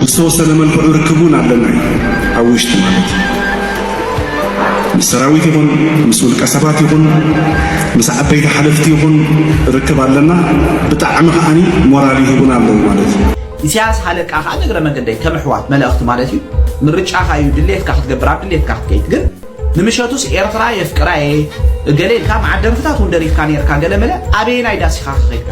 ብዝተወሰነ መልክዑ ርክብ እውን ኣለና እዩ ኣብ ውሽጢ ማለት እዩ ምስ ሰራዊት ይኹን ምስ ውልቀ ሰባት ይኹን ምስ ዓበይቲ ሓለፍቲ ይኹን ርክብ ኣለና ብጣዕሚ ከዓኒ ሞራል ይህቡና ኣለዉ ማለት እዩ ኢሳያስ ሃለቃ ከዓ ንእግረ መንገደይ ከም ኣሕዋት መለእኽቲ ማለት እዩ ምርጫኻ እዩ ድሌትካ ክትገብር ኣብ ድሌትካ ክትከይድ ግን ንምሸቱስ ኤርትራ የፍቅራ እየ እገለ ኢልካ መዓት ደርፍታት እውን ደሪፍካ ነርካ ገለመለ ኣበየናይ ዳሲኻ ከኸይድካ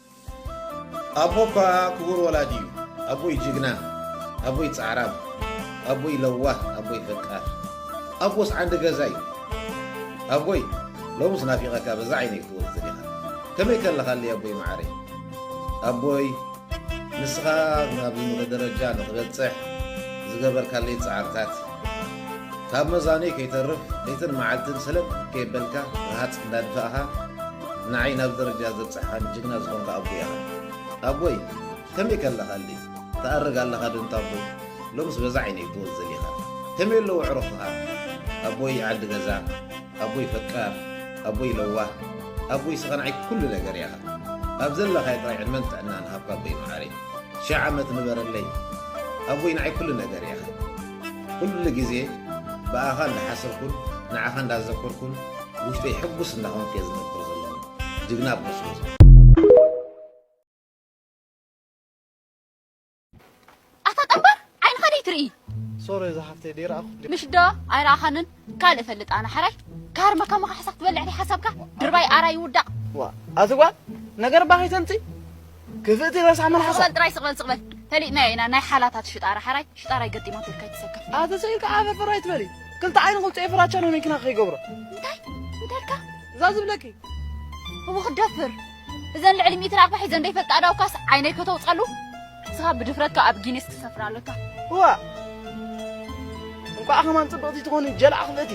ኣቦ እኳ ክቡር ወላዲ እዩ ኣቦይ ጅግና ኣቦይ ጻዕራም ኣቦይ ለዋህ ኣቦይ ፈቃር ኣቦስ ዓንዲ ገዛ እዩ ኣቦይ ሎምስ ናፊቐካ በዛ ዓይነይ ክትወጽእ ዲኻ ከመይ ከለኻለይ ኣቦይ መዓረይ ኣቦይ ንስኻ ናብዚ ምኽ ደረጃ ንኽበጽሕ ዝገበርካለይ ጻዕርታት ካብ መዛኑይ ከይተርፍ ለይትን መዓልትን ሰለጥ ከየበልካ ረሃጽ እንዳድፋእኻ ንዓይ ናብዚ ደረጃ ዘብጽሕኻኒ ጅግና ዝኾንካ ኣቦይ ኢኻ ኣቦይ ከመይ ከለኻልይ ትኣርግ ኣለኻ ዶ እንታቦይ ሎምስ በዛ ዓይነይ ብወዝ ዘሊኻ ከመይ ኣለዉ ኣዕሩኽኻ ኣቦይ ዓዲ ገዛ ኣቦይ ፈቃር ኣቦይ ለዋህ ኣቦይ ስኻ ንዓይ ኩሉ ነገር ኢኻ ኣብ ዘለኻዮ ጥራይ ዕድመን ጥዕናን ሃብካ ኣቦይ መዓረይ ሽሕ ዓመት ንበረለይ ኣቦይ ንዓይ ኩሉ ነገር ኢኻ ኩሉ ግዜ ብኣኻ እንዳሓሰብኩን ንዓኻ እንዳዘከርኩን ውሽጠይ ሕጉስ እንዳኾንኩ እየ ዝነብር ዘለኹ ጅግና ኣቦ ስለዝኾንካ። ኣታ ጠንባር ዓይንኻ ደይትርኢ ሶሪ እዛ ሓፍተይ ደይረኣኹ ምሽ ዶ ኣይረኣኻንን ካልእ ፈልጥ ኣነ ሓራይ ካርመ ከማኻ ሕሳኽ ትበልዕ ደይ ሓሳብካ ድርባይ ኣራይ ውዳቕ ዋ ኣቲ ጓል ነገር ባኺ ተምፂ ክፍእቲ ረሳሕ መልሓሳ ስቕበል ጥራይ ስቕበል ስቕበል ፈሊጥናዮ ኢና ናይ ሓላታት ሽጣራ ሓራይ ሽጣራይ ገጢማ ትብል ከይትሰከፍ ኣተሰኢልካ ዓፈ ፍራ ይትበሊ ክልተ ዓይኒ ቁልፀ ፍራቻ ነው መኪና ከይገብሮ እንታይ እንታይ ኢልካ እዛ ዝብለኪ እቡ ክደፍር እዘን ልዕሊ ሚእቲ ራቕባ ሒዘን ዘይፈልጣ ኣዳውካስ ዓይነይ ከተውፀሉ ንስኻ ብድፍረትካ ኣብ ጊኒስ ትሰፍር ኣለካ እዋ እንኳዕ ከማን ፅብቕቲ ትኾኒ ጀልዓ ክፍእቲ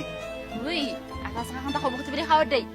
ውይ ኣታስኻ ክንታ ክቡ ክትብል ኢኻ ወደይ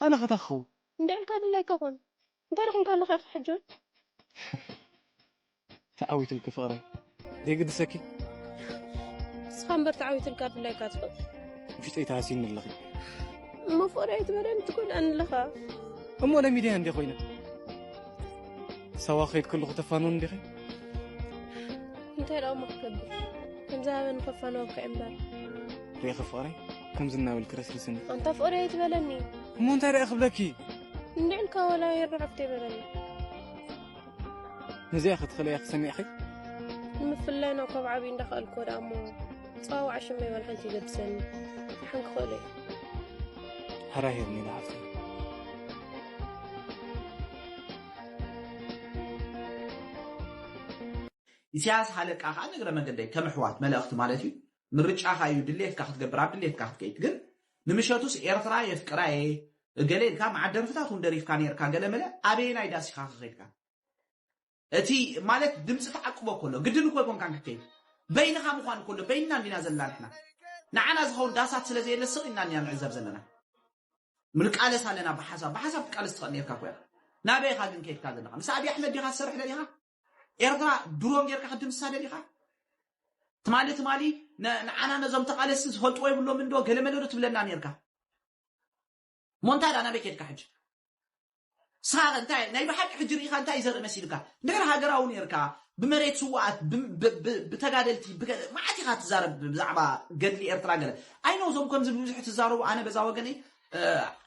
ኣነ ከ ታይ ክከውን። እንድዒ ኢልካ ድላይካ ኩን እንታይ ደኺምካ ኣለኻ ኢኻ ሕጂ ውን። ተዓዊትልኪ ፍቅረይ ዘይግድሰኪ። ንስኻ እምበር ተዓዊትልካ ድላይካ ትፈልጥ። ውሽጠይ ተሃሲይኒ ኣለኺ። እሞ ፍቅሪ ኣይትበለኒ ትጎድኣኒ ኣለኻ። እሞ ለሚደያ እንድየ ኮይነ ሳዋ ክኸይድ ከለኹ ተፋንወኒ ዲኺ። እንታይ ደኣ እሞ ክገብር ከምዝሃበኒ ከፋንወካ እየ እምበር። ሪኢኺ ፍቅረይ። ከምዚ እናበልክ ረስርስኒ ኣንታ ፍቕሪ ኣይትበለኒ እሞ እንታይ ደኣ ክብለኪ እንድዕ ኢልካ ዋላ የርብዕ ኣብቲ ይበለኒ ነዚኣ ክትኽእለያ ክሰሚዕኺ ንምፍላይና እኳ ኣብ ዓብዪ እንዳኽኣልክዎ ደኣ እሞ ፀዋዋዕ ሽመ ይበል ሓንቲ ይገድሰኒ ሓን ክኽእሎ እዩ ሃራሂርኒ ኢና ሓፍተይ ኢሳያስ ሃለቃ ከኣ ንእግረ መንገደይ ከም ኣሕዋት መለእኽቲ ማለት እዩ ምርጫኻ እዩ ድሌትካ ክትገብር ኣብ ድሌትካ ክትከይድ ግን ንምሸቱስ ኤርትራ የፍቅራ እየ እገለ ኢልካ መዓት ደርፍታት እውን ደሪፍካ ነርካ ገለመለ ኣበየናይ ዳስ ኢኻ ከኸድካ እቲ ማለት ድምፂ ተዓቅቦ ከሎ ግድን እኮ ኣይኮንካን ክትከይድ በይንኻ ምዃን ከሎ በይንና እንዲና ዘለና ንሕና ንዓና ዝኸውን ዳሳት ስለ ዘየለ ስቕ ኢልና እኒና ንዕዘብ ዘለና ምልቃለስ ኣለና ብሓሳብ ብሓሳብ ትቃለስ ትኽእል ነርካ ኮያ ናበይኻ ግን ከይድካ ዘለኻ ምስ ኣብዪ ኣሕመድ ዲኻ ትሰርሕ ደሊኻ ኤርትራ ድሮን ጌርካ ክትድምስሳ ደሊኻ? ትማሊ ትማሊ ንዓና ነዞም ተቓለስቲ ዝፈልጥዎ የብሎምን ዶ ገለመለ ዶ ትብለና ነርካ ሞንታይ ዳ ናበይ ኬድካ ሕጂ ሳረ እንታይ ናይ ብሓቂ ሕጂ ርኢኻ እንታይ ዘርኢ መሲልካ እንድሕር ሃገራዊ ነርካ ብመሬት ስዋኣት ብተጋደልቲ ብገለ መዓት ኢኻ ትዛረብ ብዛዕባ ገድሊ ኤርትራ ገለ ኣይኖ እዞም ከምዚ ብብዙሕ ትዛረቡ ኣነ በዛ ወገነይ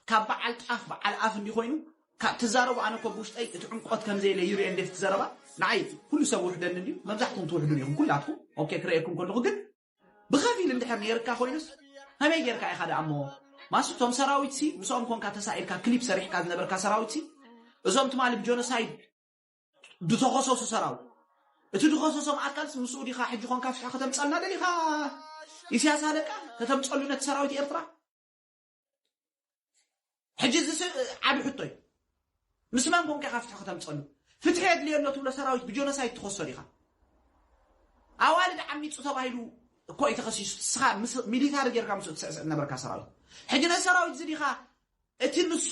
ካብ በዓል ጣፍ በዓል ኣፍ እንዲኮይኑ ካብ ትዛረቡ ኣነ እኮ ብውሽጠይ እቲ ዕምቆት ከምዘየለ ይርኤ እንዴት እቲ ዘረባ ንዓይ ኩሉ ሰብ ውሕደኒ እንድዩ መብዛሕትኩም ትውሕዱን ኢኹም ኩላትኩም ኦኬ ክርኤኩም ከለኹ ግን ብኸፊል እንድሕር ነይርካ ኮይኑስ ከመይ ጌርካ ኢኻ ደኣ እሞ ማስ እቶም ሰራዊት ሲ ምስኦም ኮንካ ተሳኢልካ ክሊፕ ሰሪሕካ ዝነበርካ ሰራዊት ሲ እዞም ትማሊ ብጆኖሳይድ ዝተኸሰሱ ሰራዊት እቲ ድኸሰሶም ኣካልስ ምስኡ ዲኻ ሕጂ ኮንካ ፍትሒ ከተምፀልና ደሊኻ ኢሳያስ ኣለቃ ከተምፀሉ ነቲ ሰራዊት ኤርትራ ሕጂ እዚ ዓብ ሕቶ እዩ ምስ መን ኮንካ ኢኻ ፍትሒ ከተምፀሉ ፍትሒ የድልዮ ኣሎ ትብሎ ሰራዊት ብጆኖሳይድ ትኸሶ ዲኻ ኣዋልድ ዓሚፁ ተባሂሉ እኮ እዩ ተኸሲሱ ንስኻ ሚሊታሪ ጌርካ ምስኡ ትስዕስዕ ነበርካ ሰራዊት ሕጂ ነዚ ሰራዊት እዚ ዲኻ እቲ ንሱ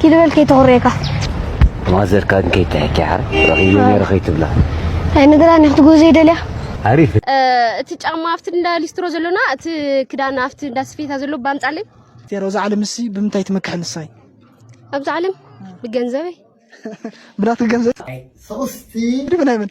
ኪሊ በል ከይተኹርየካ ማዘርካ ግን ከይትሕኪ ሓር ረኺበ ነይረ ከይትብላ ናይ ንግራን ክትጎ ዘይደልያ ኣሪፍ እቲ ጫማ ኣብቲ እንዳ ሊስትሮ ዘሎና እቲ ክዳን ኣብቲ እንዳ ስፌታ ዘሎ ባምጻለይ ቴሮ እዛ ዓለም እሲ ብምንታይ ትመክሕ ንሳይ ኣብዚ ዓለም ብገንዘበይ ብናትክ ገንዘብ ናይ ሶስቲ ድብናይ ምን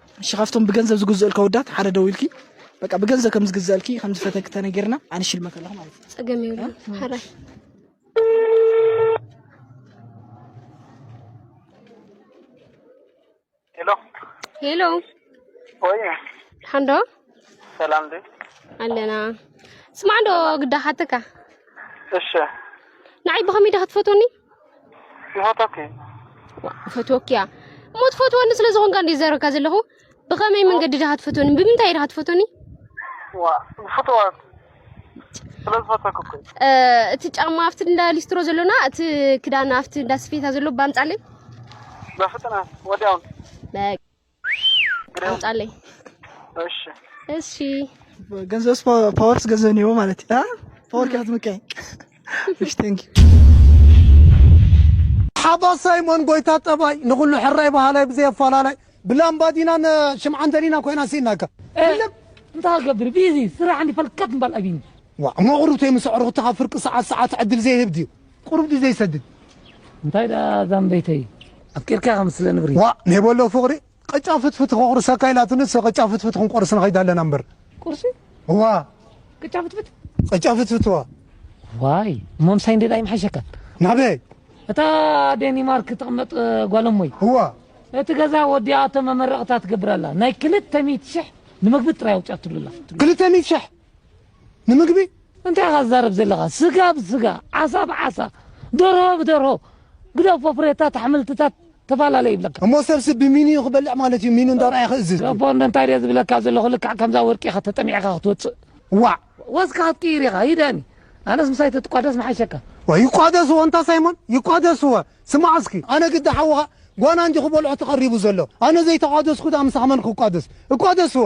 እሺ ካብቶም ብገንዘብ ዝግዝኡልካ ወዳት ሓደ ደውልኪ በቃ ብገንዘብ ከም ዝግዝአልኪ ከም ዝፈተኪ ተነጊርና ኣነ ሽልመት ኣለኹ ማለት እዩ ጸገም ይብሉ ሓራይ ሄሎ ሄሎ ወይ ሓንዶ ሰላም ዲ ኣለና ስማዕ ዶ ግዳ ሓተካ እሺ ንዓይ ብኸመይ ዳ ክትፈትወኒ ይፈትወኪ ይፈትወኪ እያ እሞ ትፈትወኒ ስለ ዝኾንካ እንደ ዘረካ ዘለኹ ብኸመይ መንገዲ ድኻ ትፈትወኒ ብምንታይ ድኻ ትፈትወኒ ፍትዋት እቲ ጫማ ኣብቲ እንዳ ሊስትሮ ዘሎና እቲ ክዳን ኣብቲ እንዳ ስፌታ ዘሎ ባምጻለይ በፍጥነት ወዲያውን አምጣልኝ። እሺ እሺ ገንዘብስ ፓወ- ፓወርስ ገንዘብ ነው ማለት አ? ፓወር ከያት ምቀኝ እሺ ቴንክ ሓባሳይ መን ጎይታ ጠባይ ንኹሉ ሕራይ በሃላይ ብዘይ ኣፈላላይ ብላምባዲናን ሽምዓን ደሊና ኮይና ሲናካ እልም እንታይ ክገብር ቢዚ ስራሕ እንዲ ፈልከት ምባል ኣቢኒ ዋ መቕሩብተይ ምስ ኣዕሩኽቲ ካብ ፍርቂ ሰዓት ሰዓት ዕድል ዘይህብ ድዩ ቁሩብ ድዩ ዘይሰድድ? እንታይ ደኣ ዛምበይተይ ኣፍቂርካ ከም ስለ ንብሪ። ዋእ ኔቦ ኣሎ ፍቕሪ ቕጫ ፍትፍቲ ከቑርሰካ ኢላትኒ ንሰ ቕጫ ፍትፍቲ ክንቆርስ ንኸይድ ኣለና እምበር። ቁርሲ? እዋ። ቅጫ ፍትፍት? ቕጫ ፍትፍት እዋ። ዋይ እሞ ምሳይ እንድየ ኣይምሓሸካን? ናበይ? እታ ዴኒማርክ ትቕመጥ ጓል እሞይ። እዋ። እቲ ገዛ ወዲኣቶ መመረቕታ ትገብር ኣላ ናይ ክልተ ሚእቲ ሽሕ ንመግቢ ጥራይ ኣውጺኣትሉ ኣላ። ክልተ ሚእቲ ሽሕ? ንምግቢ እንታይ ኢኻ ትዛረብ ዘለኻ ስጋ ብስጋ ዓሳ ብዓሳ ደርሆ ብደርሆ ግደፎ ፍሬታት ኣሕምልትታት ተፈላለ ይብለካ እሞ ሰብሲ ብሚንዩ ክበልዕ ማለት እዩ ሚኑ እንዳርኣየ ክእዝዝ ገፎ እንታይ ድየ ዝብለካ ዘለኹ ልክዕ ከምዛ ወርቂ ኢኻ ተጠሚዕካ ክትወፅእ ዋዕ ወዝካ ክትቅይር ኢኻ ሂደኒ ኣነስ ምሳይ ተትቋደስ ምሓሸካ ዋይ ይቋደስዎ እንታ ሳይሞን ይቋደስዎ ስማዕ እስኪ ኣነ ግዲ ሓውኻ ጓና እንጂ ክበልዖ ተቐሪቡ ዘሎ ኣነ ዘይተቋደስኩ ድኣ ምሳኻ መን ክቋደስ እቋደስዎ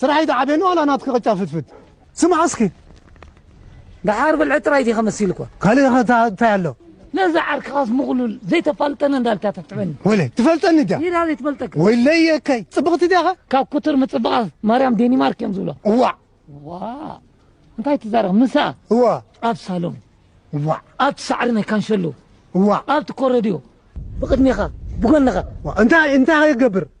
ስራሕ ኣይትዓብየኒ ዋላ ናትኪ ቅጫ ፍትፍት ስማዕ እስኪ ደሓር ብልዒ ጥራይ ዲኻ መሲልኳ ካልእ ኸ እንታይ ኣሎ ነዚ ዓርክኻስ ምቕሉል ዘይተፋልጠኒ እንዳልካ ተትዕበኒ ወለ ትፈልጠኒ ድያ ሜዳ ዘይትፈልጠካ ወይለይ የከይ ጽብቕቲ ድያ ኸ ካብ ኩትር ምጽባቓ ማርያም ዴኒማርክ እዮም ዝብሎ እዋዕ ዋ እንታይ ትዛረብ ምሳ እዋ ኣብ ሳሎን እዋዕ ኣብቲ ሳዕሪ ናይ ካንሸሎ እዋዕ ኣብቲ ኮረድዮ ብቕድሜኻ ብጎንኻ እንታይ እንታይ ኸይገብር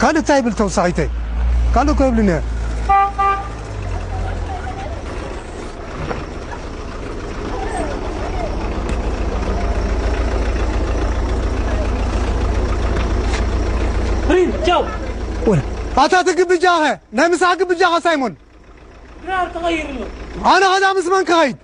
ካልእ ታይ ይብል ተውሳኺተይ ካልእ እኮ የብሉን እየ። ኣታ እቲ ግብጃኸ ናይ ምሳሕ ግብጃኸ ሳይሞን ኣነ ከዳ ምስ መን ክኸይድ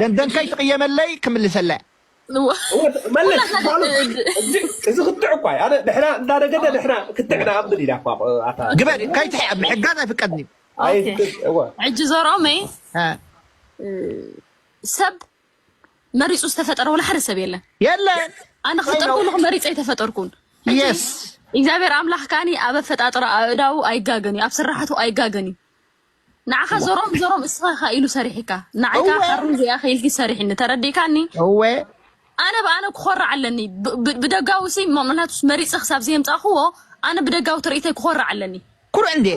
ደንደን ከይትቕየመለይ ክምልሰላ መለስ እዚ ክትዕ እኳ እዩ ኣነ ንሕና እንዳነገደ ንሕና ክትዕ ንኣምን ኢና እኳ ግበሪ ከይትሕ ኣብ ምሕጋዝ ኣይፍቀድን እዩ ሕጂ ዘሮመይ ሰብ መሪፁ ዝተፈጠረ ወላ ሓደ ሰብ የለን የለን ኣነ ክፍጠር ከለኩ መሪፀ ኣይተፈጠርኩን የስ እግዚኣብሔር ኣምላኽ ካኒ ኣብ ኣፈጣጥራ ኣእዳው ኣይጋገን እዩ ኣብ ስራሕቱ ኣይጋገን እዩ ንዓኻ ዘሮም ዘሮም እስኻ ኢኻ ኢሉ ሰሪሒካ ንዓይ እወ ከዓ ሓሩን እዚኣ ኢኻ ኢልኪ ሰሪሒኒ ተረዲእካኒ እወ ኣነ ብኣነ ክኾርዕ ኣለኒ ብ- ብ- ብደጋዊ ሲ ምክንያቱስ መሪፀ ክሳብ ዘየምፃእክዎ ኣነ ብደጋዊ ትርኢተይ ክኾርዕ ኣለኒ ኩርዕ እንዴ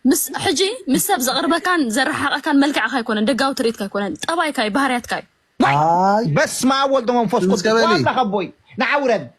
ምስ ሕጂ ምስ ሰብ ዘቕርበካን ዘረሓቐካን መልክዕካ ኣይኮነን ደጋዊ ትርኢትካ ኣይኮነን ጠባይካ እዩ ባህርያትካ እዩ ዋይ ኣይ በስመ ኣብ ወልድ መንፈስ ድምፅ ቅዱስ ቀበሊ ዋብላ ከቦይ ንዓ ውረድ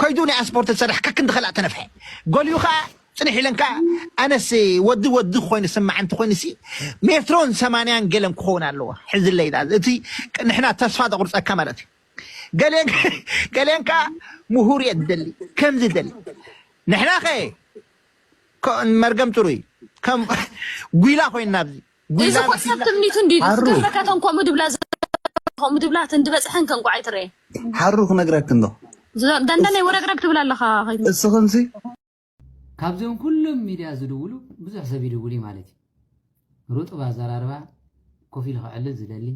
ከይዱ ናይ ኣስፖርት ዝሰርሕ ከክንዲ ከላእ ተነፍሐ ጎልዩ ከኣ ጽንሕ ኢለን ከኣ ኣነስ ወዲ ወዲ ኮይኑ ስማዕ እንተ ኮይኑሲ ሜትሮን ሰማንያን ገለን ክኸውን ኣለዎ ሕዝለይ ዳኣ እቲ ንሕና ተስፋ ዘቑርጸካ ማለት እዩ ገሌን ገሌን ከኣ ምሁር እየ ዝደሊ ከምዚ ደሊ ንሕና ከ መርገም ጥሩይ ከም ጉይላ ኮይንና ኣብዚ እዚ ኮት ሰብ ትምኒቱ እንዲ ገበረ ከተን ኮሙ ድብላ ኮሙ ድብላ ትንዲ በጽሐን ከንቋዓይ ትረየ ሓሩ ክነግረክ እንዶ ደንደነይ ወረግረግ ትብል ኣለኻ እስኽንሲ ካብዞም ኩሎም ሚድያ ዝድውሉ ብዙሕ ሰብ ይድውል እዩ ማለት እዩ ሩጡብ ኣዘራርባ ኮፍ ኢሉ ክዕልል ዝደሊ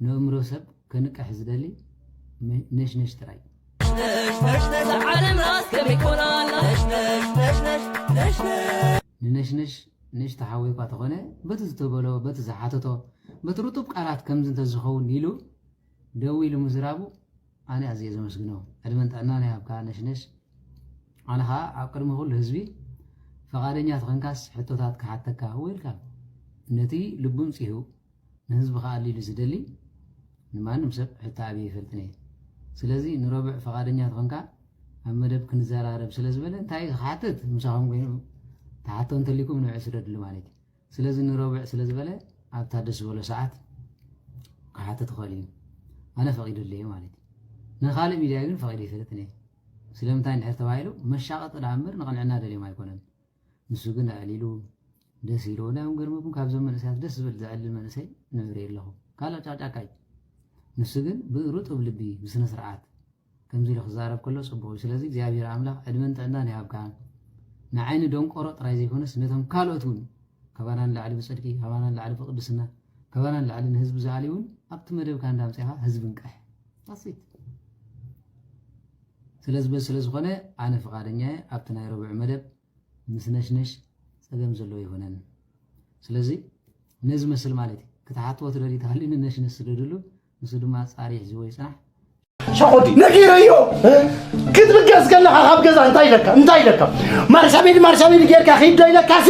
ንእምሮ ሰብ ከንቅሕ ዝደሊ ነሽነሽ ጥራይ ንነሽነሽ ንእሽቶ ሓዊ'ኳ ተኾነ በቲ ዝተበሎ በቲ ዝሓተቶ በቲ ርጡብ ቃላት ከምዚ እንተዝኸውን ኢሉ ደዊሉ ምዝራቡ ኣነ ኣዝየ ዘመስግኖ ዕድመን ጥዕናን ይሃብካ ነሽነሽ ኣነ ኸኣ ኣብ ቅድሚ ኩሉ ህዝቢ ፈቓደኛ ተኾንካስ ሕቶታት ክሓተካ ዌልካም ነቲ ልቡን ጺሁ ንህዝቢ ክኣሊ ኢሉ ዝደሊ ንማንም ሰብ ሕቶ ኣብየ ኣይፈልጥን እየ። ስለዚ ንረቡዕ ፈቓደኛ ተኾንካ ኣብ መደብ ክንዘራረብ ስለ ዝበለ እንታይ እዩ ክሓትት ምሳኹም ኮይኑ ተሓቶ እንተሊኩም ንብዕ ስደድሉ ማለት እዩ። ስለዚ ንረቡዕ ስለ ዝበለ ኣብታ ደስ ዝበሎ ሰዓት ክሓትት ይኽእል እዩ። ኣነ ፈቒደሉ እየ ማለት እዩ። ንካልእ ሚድያ ግን ፈቒደ ኣይፈልጥን እየ። ስለምንታይ እንድሕር ተባሂሉ መሻቐጢ ደኣ እምበር ንቕንዕና ደልዮም ኣይኮነን። ንሱ ግን ኣዕሊሉ ደስ ኢልዎ እንታይ እዮም ገርመኩም ካብዞም መንእሰያት ደስ ዝብል ዘዕልል መንእሰይ ንርኢ ኣለኹ ካልእ ጫቅጫቃይ ንሱ ግን ብርጡብ ልቢ ብስነ ስርዓት ከምዚ ኢሉ ክዛረብ ከሎ ጽቡቕ እዩ ስለዚ እግዚኣብሔር ኣምላኽ ዕድመን ጥዕናን ይሃብካ ንዓይኒ ደንቆሮ ጥራይ ዘይኮነስ ነቶም ካልኦት እውን ካባና ንላዕሊ ብጽድቂ ካባና ንላዕሊ ብቅድስና ካባና ንላዕሊ ንህዝቢ ዝኣልዩ እውን ኣብቲ መደብካ እንዳምፅኻ ህዝቢ ንቅሕ ዳሲት ስለዚ በዚ ስለ ዝኾነ ኣነ ፍቓደኛ እየ ኣብቲ ናይ ረቡዕ መደብ ምስ ነሽነሽ ጸገም ዘለዎ ኣይኮነን ስለዚ ነዚ መስል ማለት እዩ ክትሓትዎ ትደልዩ ተሃልዩ ንነሽነሽ ስደድሉ ንሱ ድማ ኣጻሪ ሒዝዎ ይጽናሕ ሸኾዲ ነጊረዮ ክትብገስ ከለኻ ካብ ገዛ እንታይ ኢለካ እንታይ ኢለካ ማርሻቤዲ ማርሻቤዲ ጌርካ ኺድ ዶ ኢለካሲ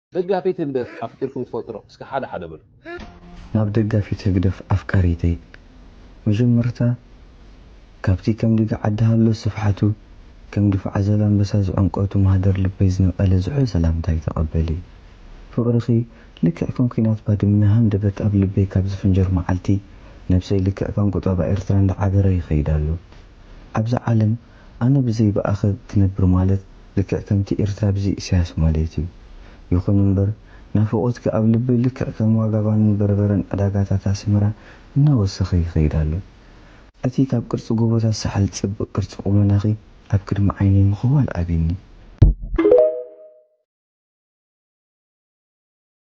ደጋፊት ህግደፍ ኣፍቂርኩም ትፈልጡ ዶ እስከ ሓደ ሓደ በሉ። ናብ ደጋፊት ህግደፍ ኣፍቃሪተይ መጀመርታ ካብቲ ከም ድግ ዓዲ ሃሎ ስፍሓቱ ከም ድፍዓ ዘላምበሳ ዝዕምቆቱ ማህደር ልበይ ዝነቀለ ዝሑል ሰላምታይ ተቀበሊ ፍቅርኺ ልክዕ ከም ኩናት ባድመ ሃንደበት ኣብ ልበይ ካብ ዝፍንጀር ማዓልቲ ነብሰይ ልክዕ ከም ቁጠባ ኤርትራ እንዳዓበረ ይኸይድ ኣሎ ኣብዛ ዓለም ኣነ ብዘይ ብኣኸ ክነብር ማለት ልክዕ ከምቲ ኤርትራ ብዘይ ኢሳያስ ማልት እዩ። ይኹን እምበር ናፍቖትኪ ኣብ ልበይ ልክዕ ከም ዋጋ ባንን በርበረን ዕዳጋታት ኣስመራ እናወሰኸ ይኸይድ ኣሎ። እቲ ካብ ቅርጺ ጎቦታት ሳሕል ዝጸብቕ ቅርጺ ቁመናኺ ኣብ ቅድሚ ዓይነይ ምኽዋል ኣብዩኒ።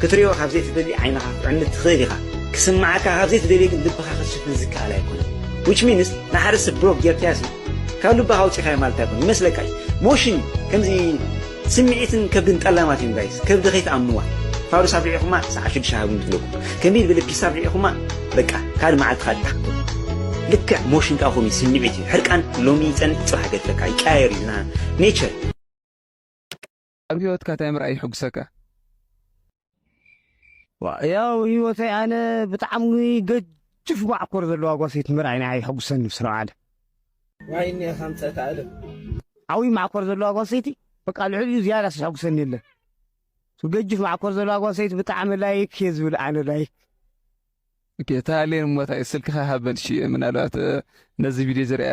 ክትሪኦ ካብ ዘይትደሊ ዓይንኻ ክዕምት ትኽእል ኢኻ ክስምዓካ ካብ ዘይትደልዮ ግን ልብኻ ክትሽፍን ዝከኣል ኣይኮነን which means ንሓደ ሰብ ብሎክ ጌርካዮሲ ካብ ልብኻ ኣውፂእካዮ ማለት ኣይኮነ ይመስለካ እዩ ሞሽን እዩ ከምዚ ስምዒትን ከብድን ጠላማት እዮም ጋይስ ከብዲ ከይትኣምንዋ ፋዱስ ኣብ ርዒኹማ ሰዓት ሽዱሽተ ሃብኒ ትብለኩም ከንቢል ብልብ ፒሳ ኣብ ርዒኹማ በቃ ካልእ መዓልቲ ካልእ ትሓቶ ልክዕ ሞሽን ከዓ ከምኡ ስምዒት እዩ ሕርቃን ሎሚ ይፀንት ፅባሕ ገድፈካ ይቀያየር እዩ ኔቸር ኣብ ሂወትካ ታይ ምርኣይ ይሕጉሰካ? ያው ሂወተይ ኣነ ብጣዕሚ ገጅፍ ማዕኮር ዘለዋ ጓሰይቲ ምርኣይ ንዓይ የሕጉሰኒ ብስም ኣለም። ዋይ እኒኣስ ኣምፀእት ኣለም። ዓብይ ማዕኮር ዘለዋ ጓል ሰይቲ በቃ ልዕሊኡ ዝያዳስ ዘሐጉሰኒ የለን እሱ ገጅፍ ማዕኮር ዘለዋ ጓል ሰይቲ ብጣዕሚ ላይክ እየ ዝብል ኣነ ላይክ እታ ኣሌን እሞ ታይ ስልክኻ ሃበን እሺ ምናልባት ነዚ ቪድዮ ዝሪኣ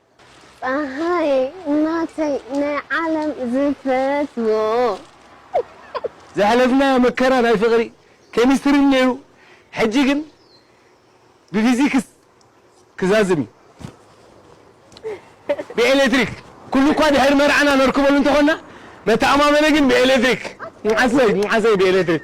ጸሃየ ናተይ ናይ ዓለም ዝፈትዎ። ዘሕለፍናዮ መከራ ናይ ፍቅሪ ኬሚስትሪ ኔሩ ሕጂ ግን ብፊዚክስ ክዛዝም ዩ ብኤሌትሪክ ኩሉ እኳ ድሕሪ መርዓና ነርክበሉ እንተኮና መተኣማመኒ ግን ብኤሌትሪክ ምዓሰይ ምዓሰይ ብኤሌትሪክ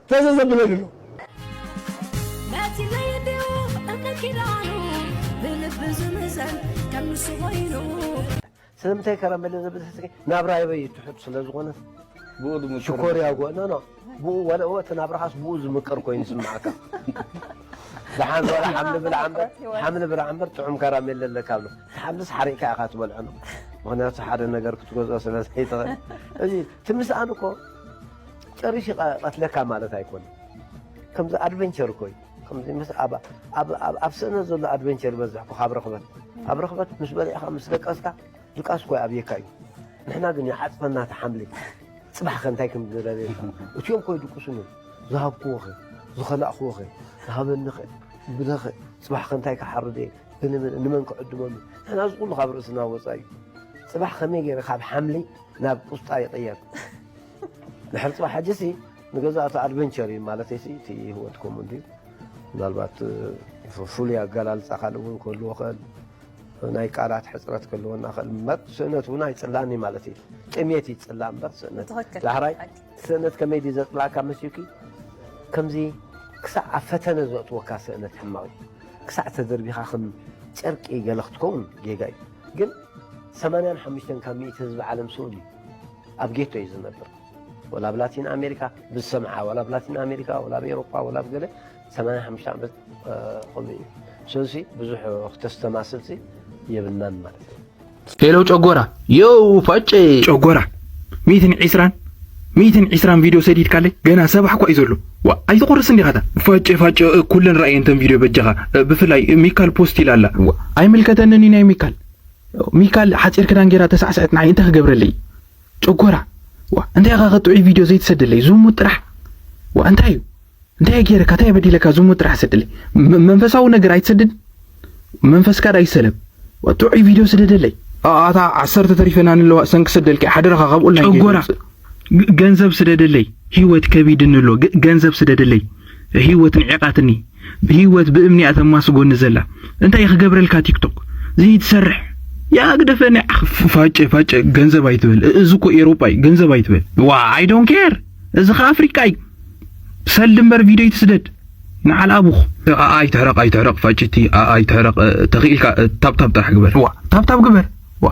ተዘ ዘብለኒ ኣሎ። ነቲ ለየድኡ እምነት ኪዳኑ ብልቢ ዝምዘን ከም ንሱ ኮይኑ ስለምንታይ ከረመለ ዘብል ሕዝቂ ናብራይበይ ትሑት ስለ ዝኾነስ ብኡ ዝምቅር ሽኮርያ ጎ ኖ ኖ ብኡ ወላ እወ እቲ ናብራኻስ ብኡ ዝምቅር ኮይኑ ይስምዓካ ደሓን ወላ ሓምሊ ብላዕ እምበር ሓምሊ ብላዕ እምበር ጥዑም ከራሜለ ኣለካ ብሎ እቲ ሓምልስ ሓሪቕካ ኢኻ ትበልዖ ነው ምክንያቱ ሓደ ነገር ክትገዝኦ ስለ ዘይትኽእል እዚ እቲ ምስኣን እኮ ጨሪሹ ይቀትለካ ማለት ኣይኮነን ከምዚ ኣድቨንቸር እኮ እዩ ከምዚ ምስ ኣብ ኣብ ኣብ ስእነት ዘሎ ኣድቨንቸር ይበዝሕ እኮ ካብ ርኽበት ኣብ ርኽበት ምስ በሊዕካ ምስ ደቀስካ ድቃስ እኮ ኣብየካ እዩ ንሕና ግን ይዓፅፈና እቲ ሓምሊ ፅባሕ ከ እንታይ ከም ዝረብየካ እትኦም ኮ ይድቅሱን እዮም ዝሃብክዎ ኸ ዝኸላእኽዎ ኸ ዝሃበኒ ኸ ብለ ኸ ፅባሕ ከ እንታይ ክሓርድ እየ ብንምን ንመን ክዕድመሉ ንሕና እዚ ኩሉ ካብ ርእስና ወፃኢ እዩ ፅባሕ ከመይ ገይረ ካብ ሓምሊ ናብ ቁስጣ ይቕየር ድሕሪ ፅባሕ ሕጂሲ ንገዛእ እቲ ኣድቨንቸር እዩ ማለተይሲ እቲ ህይወት ከምኡ እንድዩ ምናልባት ፍሉይ ኣገላልፃ ካልእ እውን ክህልዎ ክእል ናይ ቃላት ሕፅረት ክህልወና ክእል እምበር ስእነት እውን ኣይፅላን እዩ ማለት እዩ ጥሜት እዩ ፅላ እምበር ስእነት ዳሕራይ ስእነት ከመይ ድዩ ዘፅላእካ መስዩኪ ከምዚ ክሳዕ ኣብ ፈተነ ዘእትወካ ስእነት ሕማቕ እዩ ክሳዕ ተደርቢኻ ከም ጨርቂ ገለ ክትከውን ጌጋ እዩ ግን 85 ካብ ሚእቲ ህዝቢ ዓለም ስኡን እዩ ኣብ ጌቶ እዩ ዝነብር ወላ ኣብ ላቲን ኣሜሪካ ብዝሰምዓ ወላ ኣብ ላቲን ኣሜሪካ ወላ ኣብ ኤሮፓ ወላ ኣብ ገለ 85 ዓመት ከምኡ እዩ ስለዚ ብዙሕ ክተስተማስልሲ የብልናን ማለት እዩ ሄሎ ጨጎራ የው ፋጨ ጨጎራ ሚትን ዒስራን ሚትን ዒስራን ቪድዮ ሰዲድካለይ ገና ሰባሕ እኳ እዩ ዘሎ ዋ ኣይትቆርስ እንዲኻታ ፋጨ ፋጨ ኩለን ረኣየንተን ቪድዮ በጃኻ ብፍላይ ሚካል ፖስት ኢላ ኣላ ኣይምልከተንን እዩ ናይ ሚካል ሚካል ሓጺር ክዳን ጌራ ተሳዕሰዐት ንዓይ እንታይ ክገብረለይ ጨጎራ ዋእ እንታይ ኢኻ ከ ጥዑይ ቪድዮ ዘይትሰደለይ ዝሙት ጥራሕ ዋእ እንታይ እዩ እንታይ ገይረካ እንታይ በዲለካ ዝሙት ጥራሕ ሰደለይ መንፈሳዊ ነገር ኣይትሰድድ መንፈስካ ዳ ይሰለብ ጥዑይ ቪድዮ ስደደለይ ኣታ ዓሰርተ ተሪፈና ንለዋ ሰንኪ ሰደልኪ ሓደራኻ ካብ ኦንላይን ጨጎራ ገንዘብ ስደደለይ ህይወት ከቢድኒ ኣሎ ገንዘብ ስደደለይ ህይወት ንዒቓትኒ ህይወት ብእምኒ እያ ተማስጎኒ ዘላ እንታይ ክገብረልካ ቲክቶክ ዘይትሰርሕ ያ ግደፈኒ ፋጨ ፋጨ ገንዘብ ኣይትበል እዚ እኮ ኤሮጳ እዩ ገንዘብ ኣይትበል ዋ ኣይ ዶንት ኬር እዚ ከ ኣፍሪቃ እዩ ሰልዲ እምበር ቪድዮ ይትስደድ ንዓል ኣቡኽ ኣይትሕረቕ ኣይትሕረቕ ፋጭቲ ኣይትሕረቕ ተኽኢልካ ታብታብ ጥራሕ ግበር ዋ ታብታብ ግበር ዋ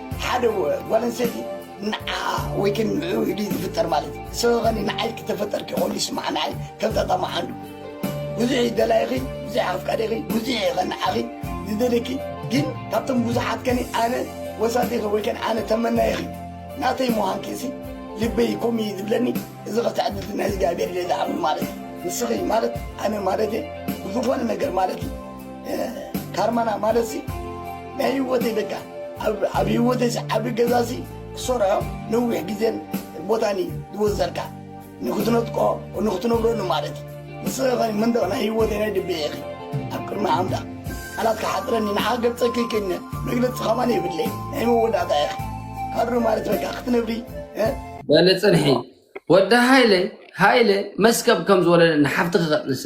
ሓደ ጓል ኣንስተይቲ ንዓኣ ወይ ከ ንዕኡ ኢሉ ዝፍጠር ማለት እዩ ሰበኸኒ ንዓይ ክተፈጠርኪ ከሉ ይስማዓ ንዓይ ከም ጣጣ መዓንዱ ብዙሕ እዩ ደላይኺ ብዙሕ ኣፍቃሪኺ ብዙሕ እዩ ኸንዓኺ ዝደልኪ ግን ካብቶም ብዙሓት ከኒ ኣነ ወሳቲኺ ወይ ከን ኣነ ተመናይኺ ናተይ ምዃንኪ ሲ ልበይ ኮም እዩ ዝብለኒ እዚ ኸትዕድልቲ ናይ እግዚኣብሔር እየ ዝኣምን ማለት እዩ ንስኺ ማለት ኣነ ማለት እየ ብዝኾነ ነገር ማለት እዩ ካርማና ማለት ሲ ናይ ህይወተይ በቃ ኣብ ህይወተይ ዝዓቢ ገዛ ሲ ክሰርሖ ነዊሕ ግዜን ቦታን እዩ ዝወዘልካ ንክትነጥቆ ንክትነብረሉ ማለት እዩ ንስኺ ኸ መንደቕ ናይ ህይወተይ ናይ ድቤ ኢኺ ኣብ ቅድሚ ኣምላኽ ቃላት ክሓፅረኒ ንሓ ገልፀኪ ክነ መግለፂ ከማን የብለይ ናይ መወዳእታ ኢኺ ካድሮ ማለት በቃ ክትነብሪ በለ ፅንሒ ወዲ ሃይለ ሃይለ መስከብ ከም ዝወለደ ንሓፍትኺ ከጥንሰ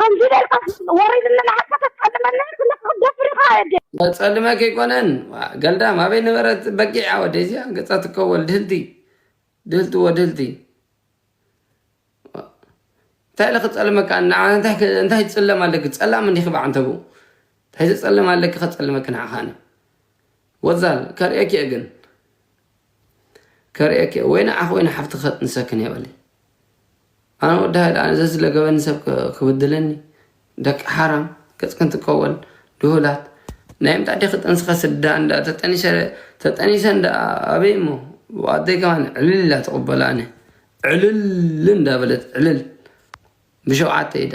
ከምዚ ጌርካስ ወሪድኒ ንዓካ ተጸልመኒ ኣለካ ክትደፍር ኢካ ኣደ። መጸልመ ከይኮነን ዋእ ገልዳም ኣበይ ነበረት በጊዕ ኣወደይ እዚኣ ገጻ ትከወል ድህልቲ ድህልቲ ወድህልቲ እንታይ ኢለ ክጸልመካ ንዓ እንታይ እንታይ ትጽለም ኣለኪ ጸላም እንዲኺ ብዓንተቡ እንታይ ዘጸልም ኣለኪ ከጸልመኪ ንዓኻ ኣነ ወዛል ከርእየኪ እየ ግን ከርእየኪ እየ ወይ ንዓኺ ወይ ንሓፍትኺ ከጥንሰክን እየ በሊ ኣነ ወዲ ሃይለ ኣነ ዘዝለገበኒ ሰብ ክብድለኒ ደቂ ሓራም ገፅክን ትቀወል ድሁላት ናይ ምንታይ ዲኺ ጠንስኻ ስዳ እንዳ ተጠኒሰ ተጠኒሰ እንዳ ኣበይ እሞ ኣደይ ከማን ዕልል ኢላ ትቕበሎ ኣነ ዕልል እንዳበለት ዕልል ብሸውዓተ ኢዳ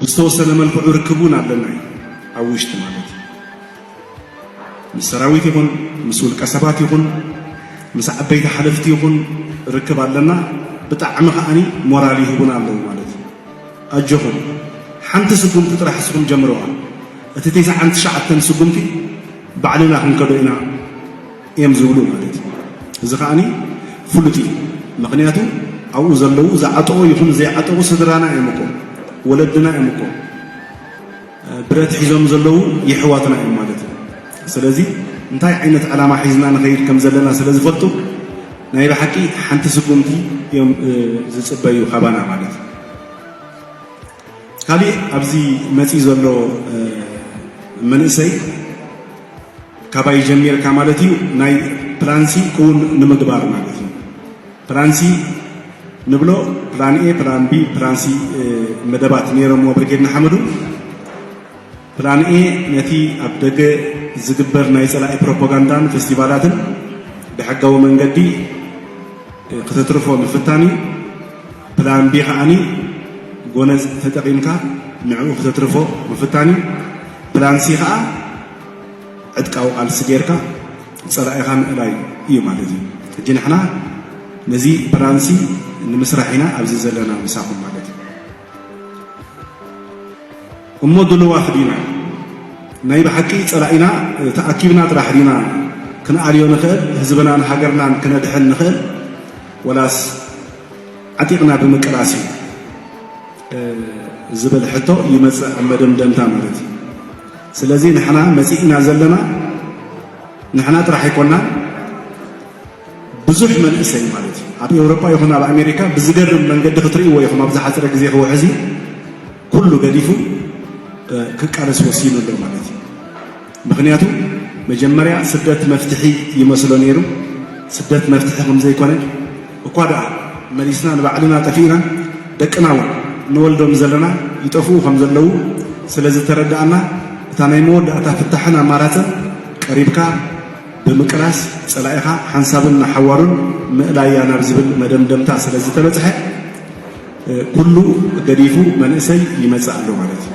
ብዝተወሰነ መልክዑ ርክብ እውን ኣለና እዩ ኣብ ውሽጢ ማለት እዩ ምስ ሰራዊት ይኹን ምስ ውልቀ ሰባት ይኹን ምስ ዓበይቲ ሓለፍቲ ይኹን ርክብ ኣለና ብጣዕሚ ከዓኒ ሞራል ይህቡና ኣለዉ ማለት እዩ ኣጆኹም ሓንቲ ስጉምቲ ጥራሕ እስኹም ጀምረዋ እቲ ቴስዓን ትሽዓተን ስጉምቲ ባዕልና ክንከዶ ኢና እዮም ዝብሉ ማለት እዩ። እዚ ከዓኒ ፍሉጥ እዩ ምክንያቱ ኣብኡ ዘለዉ ዝዓጠቑ ይኹን ዘይዓጠቑ ስድራና እዮም እኮ ወለድና እዮም እኮ ብረት ሒዞም ዘለዉ የሕዋትና እዮም ማለት እዩ። ስለዚ እንታይ ዓይነት ዕላማ ሒዝና ንኸይድ ከም ዘለና ስለ ዝፈልጡ ናይ ብሓቂ ሓንቲ ስጉምቲ እዮም ዝፅበዩ ካባና ማለት እዩ። ካሊእ ኣብዚ መፂኡ ዘሎ መንእሰይ ካባይ ጀሚርካ ማለት እዩ ናይ ፕላንሲ ክውን ንምግባር ማለት እዩ ፕላንሲ ንብሎ ፕላን ኤ ፕላን ቢ ፕላንሲ መደባት ነይሮምዎ ብርጌድ ንሓመዱ ፕላን ኤ ነቲ ኣብ ደገ ዝግበር ናይ ጸላኢ ፕሮፓጋንዳን ፌስቲቫላትን ብሕጋዊ መንገዲ ክተትርፎ ምፍታን እዩ። ፕላን ቢ ከዓኒ ጎነጽ ተጠቒምካ ንዕኡ ክተትርፎ ምፍታን እዩ። ፕላን ሲ ከኣ ዕጥቃዊ ቃልሲ ጌርካ ጸላኢኻ ምእላይ እዩ ማለት እዩ። ሕጂ ንሕና ነዚ ፕላን ሲ ንምስራሕ ኢና ኣብዚ ዘለና ምሳኹም ማለት እዩ። እሞ ድልዋት ዲና ናይ ብሓቂ ጸላኢና ተኣኪብና ጥራሕ ዲና ክንኣልዮ ንኽእል ህዝብናን ሃገርናን ክነድሕን ንኽእል ወላስ ዓጢቕና ብምቅላስ እዩ ዝብል ሕቶ ይመጽእ ኣብ መደምደምታ ማለት እዩ ስለዚ ንሕና መጺእና ዘለና ንሕና ጥራሕ ኣይኮናን ብዙሕ መንእሰይ ማለት እዩ ኣብ ኤውሮጳ ይኹን ኣብ ኣሜሪካ ብዝገርም መንገዲ ክትርእይዎ ኢኹም ኣብ ዝሓፀረ ግዜ ክውሕዚ ኩሉ ገዲፉ ክቃለስ ወሲኑ ኣሎ ማለት እዩ። ምክንያቱ መጀመርያ ስደት መፍትሒ ይመስሎ ነይሩ። ስደት መፍትሒ ከም ዘይኮነ እኳ ደኣ መሊስና ንባዕልና ጠፊእና ደቅና እውን ንወልዶም ዘለና ይጠፍኡ ከም ዘለዉ ስለ ዝተረዳእና እታ ናይ መወዳእታ ፍታሕን ኣማራፅን ቀሪብካ ብምቅላስ ፀላኢኻ ሓንሳብን ንሓዋሩን ምእላያ ናብ ዝብል መደምደምታ ስለ ዝተበፅሐ ኩሉ ገዲፉ መንእሰይ ይመፅእ ኣሎ ማለት እዩ።